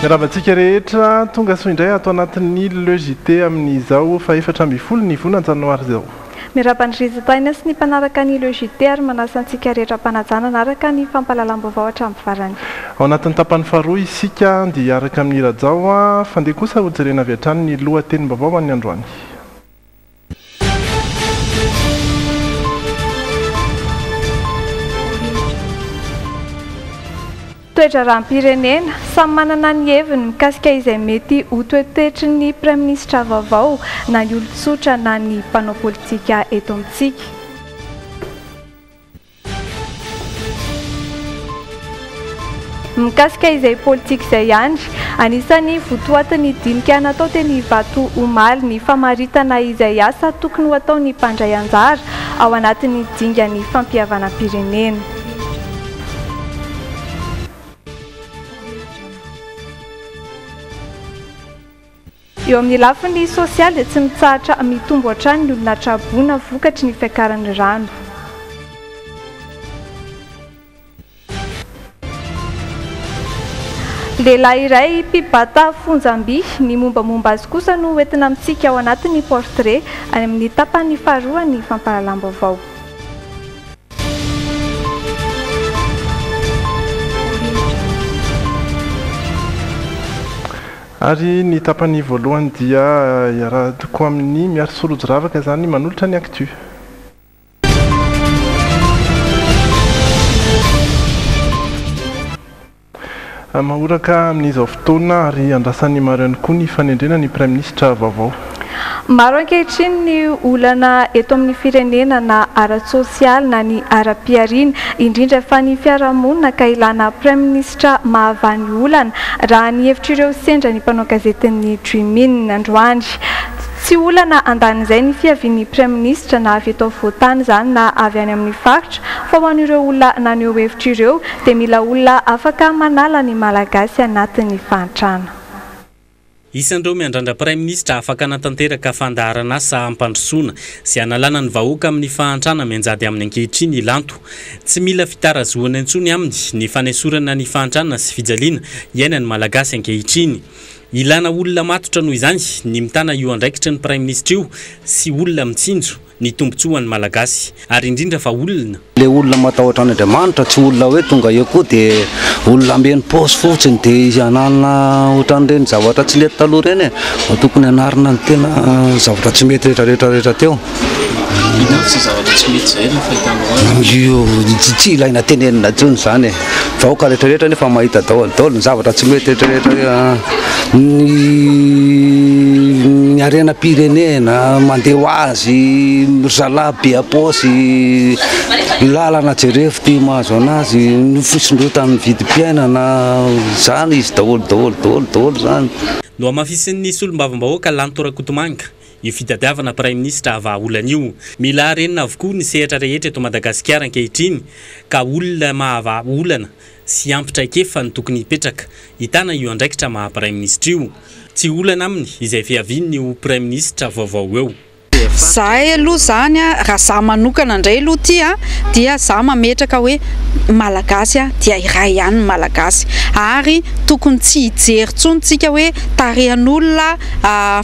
Miarahaba antsika rehetra, tonga soa indray ato anatin'ny Le JT amin'izao fahefatra ambin'ny folo ny volana janoary izao. Miarahaba an'i Rizitaina sy ny mpanaraka ny Le JT ary manasa antsika rehetra am-panajana hanaraka ny fampahalalam-baovao hatramin'ny farany. Ao anatin'ny tapany faharoa isika dia hiaraka amin'i Rajao, fa ndeha kosa hojerena avy hatrany ny lohatenim-baovao an'ny androany. Toe-draharaham-pirenena, Samy manana ny heviny mikasika izay mety ho toetoetry ny praiminisitra vaovao na ny olon-tsotra na ny mpanao politika eto amintsika. Mikasika izay politika izay ihany, anisan'ny votoatin'ny dinika natao teny Ivato omaly ny famaritana izay asa tokony ho ataon'ny mpandray anjara ao anatin'ny dingan'ny fampihavanam-pirenena. Eo amin'ny lafiny sosialy dia tsy mitsahatra mitombo hatrany ny olona tra-boina vokatry ny fiakaran'ny rano. Lehilahy iray mpibata fonjam-by, ny mombamomba azy kosa no hoentina amintsika ao anatin'ny portrait, any amin'ny tapany faharoan'ny fampahalalam-baovao. Ary ny tapany voalohany dia iarahako amin'i Miary sy Rojo Ravaka izany manolotra ny actu. Mahoraka amin'izao fotoana ary andrasan'ny maro ihany koa ny fanendrena ny Praiminisitra vaovao. Maro ankehitriny ny olana eto amin'ny firenena na ara-tsosialy na ny ara-pihariana, indrindra fa ny fiarahamonina ka ilana praiminisitra mahavaha ny olana, raha ny hevitr'ireo sendra ny mpanao gazetin'ny Dream In androany. Tsy olana andanin'izay ny fiavian'ny praiminisitra na avy eto afovoan-tany izany na avy any amin'ny faritra fa ho an'ireo olona naneho hevitra ireo dia mila olona afaka manala ny Malagasy anatin'ny fahantrana. Isan'ireo miandrandra Praiminisitra afaka hanatanteraka fandaharan'asa hampandrosoana sy hanalana ny vahoaka amin'ny fahantrana mianjady aminy ankehitriny i Lanto. Tsy mila fitarazohana intsony aminy ny fanesorana ny fahantrana sy fijaliana iainan'ny Malagasy ankehitriny. Ilana olona matotra noho izany ny mitana io andraikitry ny Praiminisitra io sy olona mitsinjo. ny tombotsoa ho an'ny Malagasy ary indrindra fa olona. Ilay olona matahotra an' Andriamanitra, tsy olona hoe tonga eo koa dia olona hameno paosy fotsiny dia izy hanana ohatran'ireny zavatra tsy nety taloha ireny e! Mba tokony hanarina ny tena zavatra tsy mety rehetra rehetra rehetra teo. Inona avy izay zavatra tsy mety izay no fahitanao azy? Tsy ilaina tenenina intsony izany e! vahoaka rehetra rehetra nefa mahita daholo daholo ny zavatra tsy mety rehetra rehetra ny ny harena pirenena mandeha ho azy ry zalahy be apaosy lalana jerefo ty mahazo anazy ny fisondrotan'ny vidim-piainana zany izy daholo daholo daholo daholo zany Nohamafisin'ny solombavambahoaka Lanto Rakotomanga, Io fitadiavana praiminisitra ha vahaolana io. Mila harenina avokoa ny sehatra rehetra eto Madagasikara ankehitriny ka olona maha vaha olana sy ampy traikefa no tokony hipetraka hitana io andraikitra maha praiminisitra io. Tsy olana aminy izay fiavian'ny ho praiminisitra vaovao eo. Zahay aloha zany raha za manokana ndray aloha ty a dia za mametraka hoe malagasy a dia iray ihany ny malagasy ary tokony tsy hijery tsony tsika hoe tarehan'olona Fa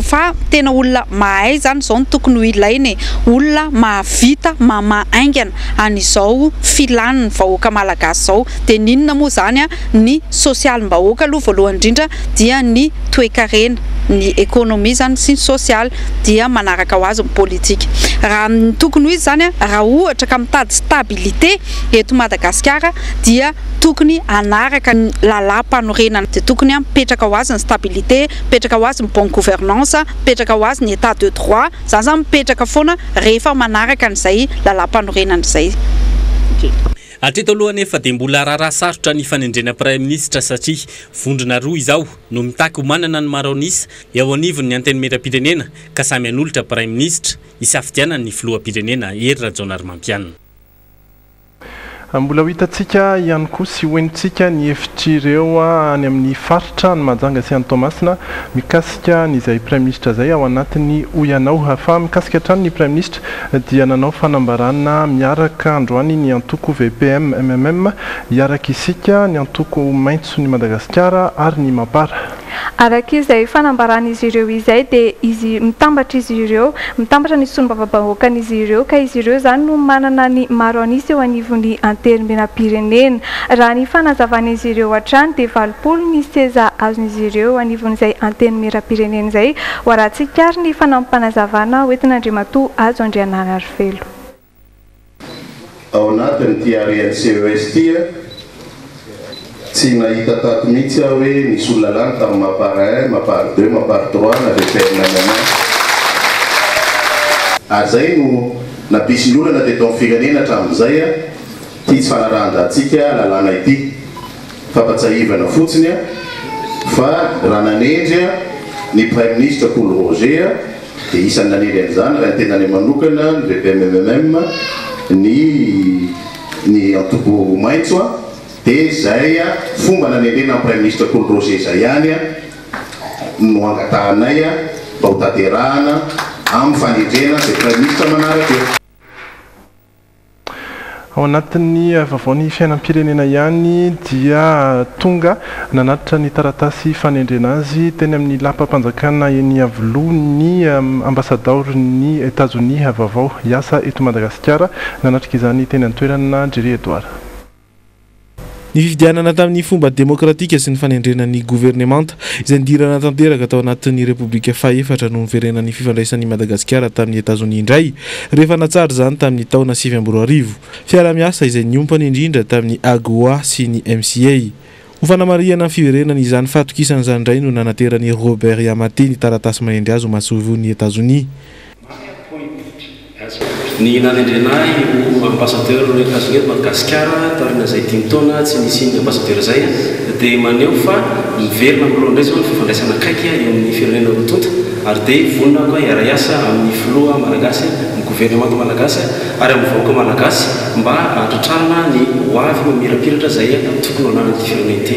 fa tena olona mahay izany izao no tokony ho ilaina e! Olona mahavita mamaha haingana an'izao filan'ny vahoaka malagasy izao. Dia ny inona moa izany an? Ny sosialim-bahoaka aloha voalohany indrindra dia ny toekarena, ny ekonomia izany sy ny sosialy dia manaraka ho azy ny politika. Raha ny tokony ho izy izany an, raha ohatra ka mitady stabilité eto Madagasikara dia. tokony hanaraka ny lalàmpanorenana, dia tokony mipetraka ho azy ny stabilité, mipetraka ho azy ny bonne gouvernance, mipetraka ho azy ny état de droit, izany izany mipetraka foana rehefa manaraka an'izay lalàmpanorenana izay. Hatreto aloha anefa dia mbola raharaha sarotra ny fanendrena Praiminisitra satria vondrona roa izao no mitaky ho manana ny maro an'isa eo anivon'ny Antenimierampirenena ka samy hanolotra Praiminisitra hisafidianany ny Filoham-pirenena Hery Rajaonarimampianina. Mbola ho hitantsika ihany koa sy hohenotsika ny hevitr'ireo any amin'ny faritra any Mahajanga sy any Toamasina mikasika an'izay praiminisitra izay ao anatin'ny Hoy Anao. Fa mikasika hatrany ny praiminisitra dia nanao fanambarana miaraka androany ny antoko VPM-MMM, Hiaraka Isika, ny antoko Maitso ny Madagasikara ary ny Mapar. Araka izay fanambaran'izy ireo izay dia izy mitambatra izy ireo, mitambatra ny solombavambahoakan'izy ireo ka izy ireo izany no manana ny maro an'isa eo anivon'ny Antenimierampirenena. Raha ny fanazavan'izy ireo hatrany dia valopolo ny seza azon'izy ireo eo anivon'izay Antenimierampirenena izay, ho arahan-tsikariny ny fanampim-panazavana hoentin'Andriamatoa Hajo Andrianarivelo. Ao anatin'ity haren'ny ces ity a, tsy nahita tato mihitsy aho hoe nisy olona lany tamin'ny ma part un, ma part deux, ma part trois na VPN na Mama. Ary izay no nampisy ny olana teto amin'ny firenena hatramin'izay a. Ity tsy fanarahan-drantsika lalàna ity. Fampatsiahivana fotsiny fa raha nanendry ny Praiminisitra Paul Roger dia isan'ny nanendry an'izany raha ny tenany manokana ny VPMMM ny ny antobo maitso dia izay fomba nanendrena an'i Praiminisitra Paul Roger izay ihany no angatahanay mba ho tanterahana amin'ny fanendrena izay Praiminisitra manaraka eo. Ao anatin'ny vaovaon'ny fiainam-pirenena ihany dia tonga nanatitra ny taratasy fanendrena azy teny amin'ny lapam-panjakana eny Iavoloha ny ambasadaoron'i Etazonia vaovao hiasa eto Madagasikara. Nanatrika izany teny an-toerana Jerry Edouard. Nifidianana tamin'ny fomba demokratika sy ny fanendrena ny governemanta, izay nidirana tanteraka tao anatin'ny Repoblika fahefatra no niverenan'ny fifandraisan'i Madagasikara tamin'i Etazonia indray, rehefa natsara izany tamin'ny taona sivy amby roa arivo. Fiarahamiasa izay niompana indrindra tamin'ny AGOA sy ny MCA. Ho fanamarihana ny fiverenany izany fahatokisana izany indray no nanateran'i Robert Yamate ny taratasy manendry azy ho masoivohon'i Etazonia. Ny Nani Andrianahy ho Ambassadeur ny Etats-Unis eto Madagasikara taoriana izay dimy taona tsy nisian'ny Ambassadeur izay dia maneho fa miverina amin'ny loha indray izao ny fifandraisana akaiky eo amin'ny firenena roa tonta ary dia vonona aoka hiara-hiasa amin'ny Filoha Malagasy, amin'ny Gouvernemanta Malagasy ary amin'ny vahoaka Malagasy mba hahatratrarana ny ho avy mamirapiratra izay tokony ho ananan'ity firenena ity.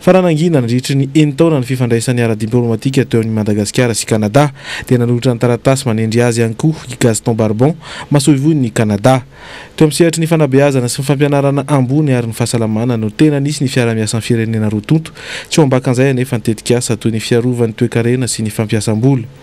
Fa raha nangina nandritry ny enin-taona ny fifandraisany ara-diplaomatika teo amin'i Madagasikara sy Kanada, dia nanolotra ny taratasy manendry azy ihany koa i Gaston Barbon, masoivohon'i Kanada. Teo amin'ny sehatry ny fanabeazana sy ny fampianarana ambony ary ny fahasalamana no tena nisy ny fiaraha-miasan'ny firenena roa tonta, tsy ho ambakan'izay anefa ny tetikasa toy ny fiarovana ny toekarena sy ny fampiasam-bola.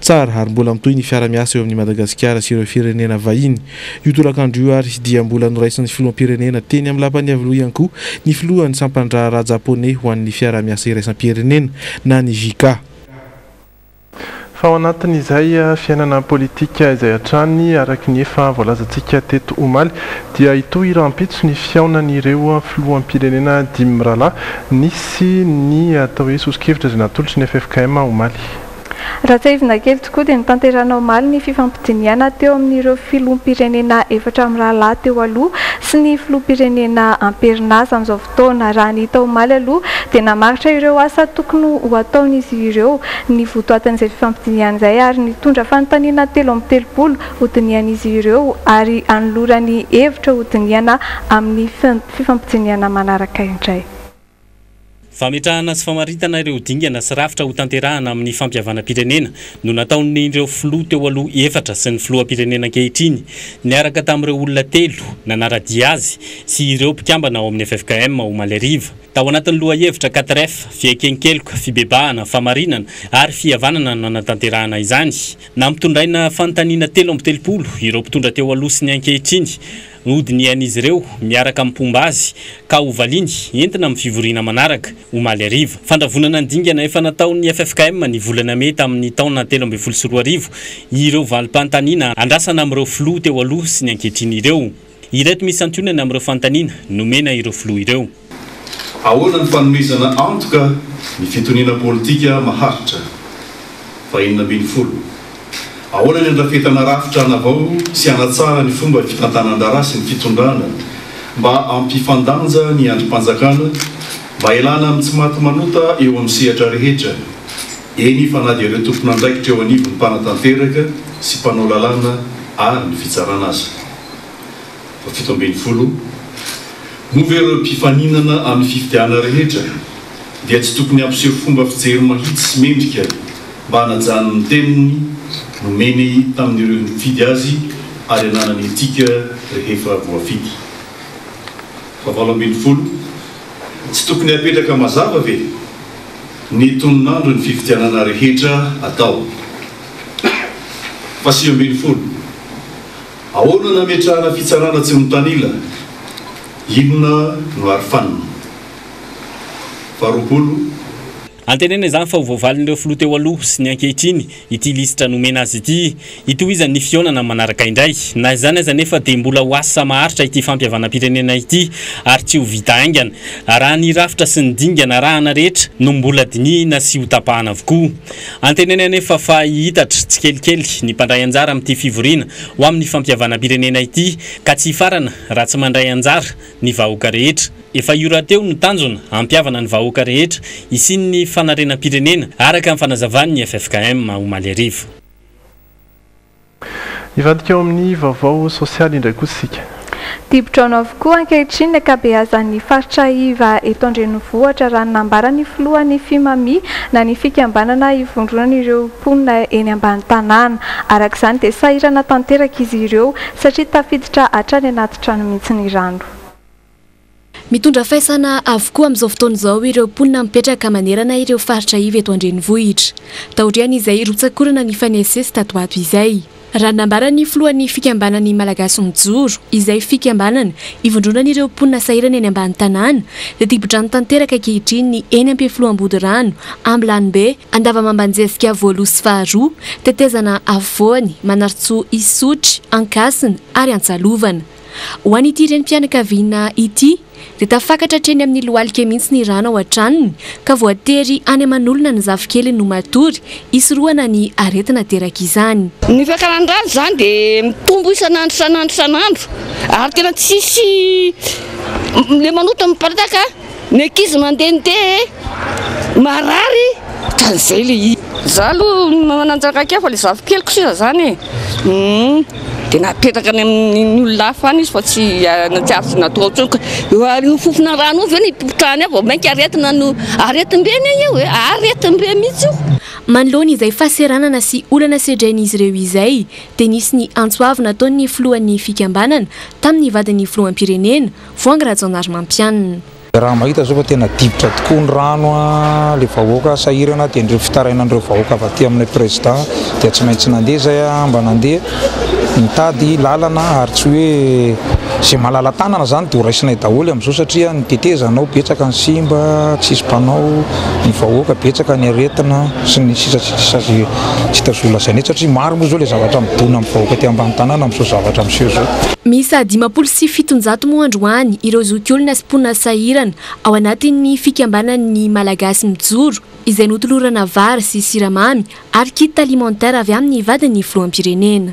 Tsara ary mbola mitohy ny fiara-miasa eo amin'i Madagasikara sy ireo firenena vahiny. Io tolakandro io ary dia mbola noraisin'ny filoham-pirenena teny amin'ny lapan'ny Iavoloha ihany koa ny filohan'ny sampan-draharaha Japoney ho an'ny fiaraha-miasa iraisam-pirenena na ny JICA. Fa ao anatin'izay fiainana politika izay hatrany, araka ny efa voalazantsika teto omaly, dia hitohy rahampitso ny fihaonan'ireo filoham-pirenena dimy mirahalahy nisy ny atao hoe soso-kevitra izay natolotry ny ffkm omaly. Raha tsiahivina kely tokoa dia notanterahina omaly ny fifampidinihana teo amin'ireo filoham-pirenena efatra mirahalahy teo aloha sy ny filoham-pirenena amperinasa amin'izao fotoana. Raha ny hita omaly aloha dia namaritra ireo asa tokony ho ataon'izy ireo ny votoatin'izay fifampidinihana izay ary nitondra fanontaniana telo amby telopolo hodinihan'izy ireo ary hanolorany hevitra hodinihana amin'ny fifampidinihana manaraka indray. Fametrahana sy famaritana ireo dingana sy rafitra ho tanterahana amin'ny fampihavanam-pirenena no nataon'ireo filoha teo aloha efatra sy ny filoham-pirenena ankehitriny, niaraka tamin'ireo olona telo nanara-dia azy sy ireo mpikambana ao amin'ny ffkm, omaly hariva. Tao anatin'ny lohahevitra quatre F, Fieken-keloka, Fibebahana, Famarinana ary Fihavanana no nanatanterahana izany. Nampitondraina fanontaniana telo amby telopolo ireo mpitondra teo aloha sy ny ankehitriny. Nodinihan'izy ireo miaraka amin'ny mpomba azy ka hovaliany entina amin'ny fivoriana manaraka, omaly hariva. Fandravonana ny dingana efa nataon'ny ffkm ny volana mey tamin'ny taona telo ambin'ny folo sy roa arivo ireo valim-panontaniana andrasana amin'ireo filoha teo aloha sy ny ankehitriny ireo. Ireto misy santionany amin'ireo fanontaniana nomena ireo filoha ireo. Ahoana ny fanomezana antoka ny fitoniana politika maharitra? faha enina ambin'ny folo. Ahoana ny handrafetana rafitra hanavao sy hanatsara ny fomba fitantanan-draharaha sy ny fitondrana mba hampifandanja ny andrim-panjakana mba hialana amin'ny tsy maty manota eo amin'ny sehatra rehetra, eny fa na dia ireo tompon'andraikitra eo anivon'ny mpanatanteraka sy mpanao lalàna ary ny fitsarana aza? Fahafito ambin'ny folo, Moa ve ireo mpifaninana amin'ny fifidianana rehetra dia tsy tokony hampiseho fomba fijery mahitsy sy mendrika mba hanajany ny teniny nomeny tamin'ireo nifidy azy ary hananany etika rehefa voafidy? Fahavalo ambin'ny folo, Tsy tokony hapetraka mazava ve ny tonon'andron'ny fifidianana rehetra atao? Fahasivy ambin'ny folo. Ahoana no ametrahana fitsarana tsy mitanila? Inona no arofanina? Faharoapolo. Antenaina izany fa ho voavalin'ireo filoha teo aloha sy ny ankehitriny ity lisitra nomena azy ity. Hitohizany ny fihaonana manaraka indray. Na izany aza anefa dia mbola ho asa maharitra ity fampihavanam-pirenena ity ary tsy ho vita haingana raha ny rafitra sy ny dingana arahana rehetra no mbola dinihina sy hotapahana avokoa. Antenainy anefa fa hihitatra tsikelikely ny mpandray anjara amin'ity fivoriana ho amin'ny fampihavanam-pirenena ity ka tsy hifarana raha tsy mandray anjara ny vahoaka rehetra. Efa io rahateo no tanjona hampihavana ny vahoaka rehetra hisian'ny fanarenam-pirenena, araka ny fanazavan'ny ffkm, omaly hariva. Hivadika ao amin'ny vaovao sosialy indray kosa isika. Dibo-drano avokoa ankehitriny ny ankabeazan'ny faritra iva eto an-drenivohitra raha ny nambaran'ny filohan'ny Fimami na ny fikambanana ivondronan'ireo mponina eny ambany tanàna. Araka izany dia sahirana tanteraka izy ireo satria tafiditra hatrany anaty trano mihitsy ny rano. Mitondra faisana avokoa amin'izao fotoana izao ireo mponina mipetraka manerana ireo faritra iva eto an-drenivohitra. Taorian'izay hirotsakorana ny fanesisy tato ato izay. Raha ny nambaran'ny filohan'ny fikambanan'ny Malagasy mijoro, izay fikambanana ivondronan'ireo mponina sahirana eny ambany tanàna, dia dibo-drano tanteraka ankehitriny ny eny Ampefilohambodirano, Ambilanombe, Andavamambanjezika voalohs sy faharoa, Tetezana afovoany, Manarintsoa, Isotry, Ankasina ary Antsalovana. Ho an'ity renim-pianakaviana ity dia tafakatra hatreny amin'ny lohalika mihitsy ny rano ao an-tranony ka voatery any aman'olona ny zafikeliny ho matory hisorohana ny aretina aterak'izany. Ny fiakaran'ny rano izany dia mitombo isan'andro isan'andro isan'andro ary tena tsisy ilay manota miparitaka. Ny ankizy mandehandeha e! Marary ohatran'izay ilay izy. Izaho aloha mananjaka kely fa ilay zafikeliko sisa izany e! Humm! Dia napetraka any amin'ny olona hafa any izy fa tsy nahatsiaro izay natao intsony ka! Eo amin'io fofona rano io ve no hipopotrahany ahy vao mainka aretina no aretim-be anie io e! Aretim-be mihitsy io! Manoloana izay fahaseranana sy olana sedrain'izy ireo izay dia nisy ny antso avo nataon'ny filohan'ny fikambanana tamin'ny vadin'ny filoham-pirenena, Voahangy Rajaonarimampianina. Raha mahita izao fa tena difotra tokoa ny rano ilay vahoaka sahirana dia ireo fitarainan'ireo vahoaka avy aty aminay Président dia tsy maintsy nandeha izay aho mba nandeha nitady lalana ary tsy hoe izay malala-tanana izany dia ho raisinay daholo amin'izao satria ny tetezanao betsaka ny simba tsisy mpanao, ny vahoaka betsaka ny aretina sy ny sisa sy ny sisa. tsy tazoha lazaina eto satria maro moa izao ilay zavatra midona amin'ny vahoaka aty ambany tanàna amin'izao zavatra miseho izao. Miisa dimampolo sy fitonjato moa androany ireo zokiolona sy mponina sahirana ao anatin'ny fikambanan'ny Malagasy Mijoro izay notolorana vary sy siramamy ary kit alimentaire avy amin'ny vadin'ny filoham-pirenena.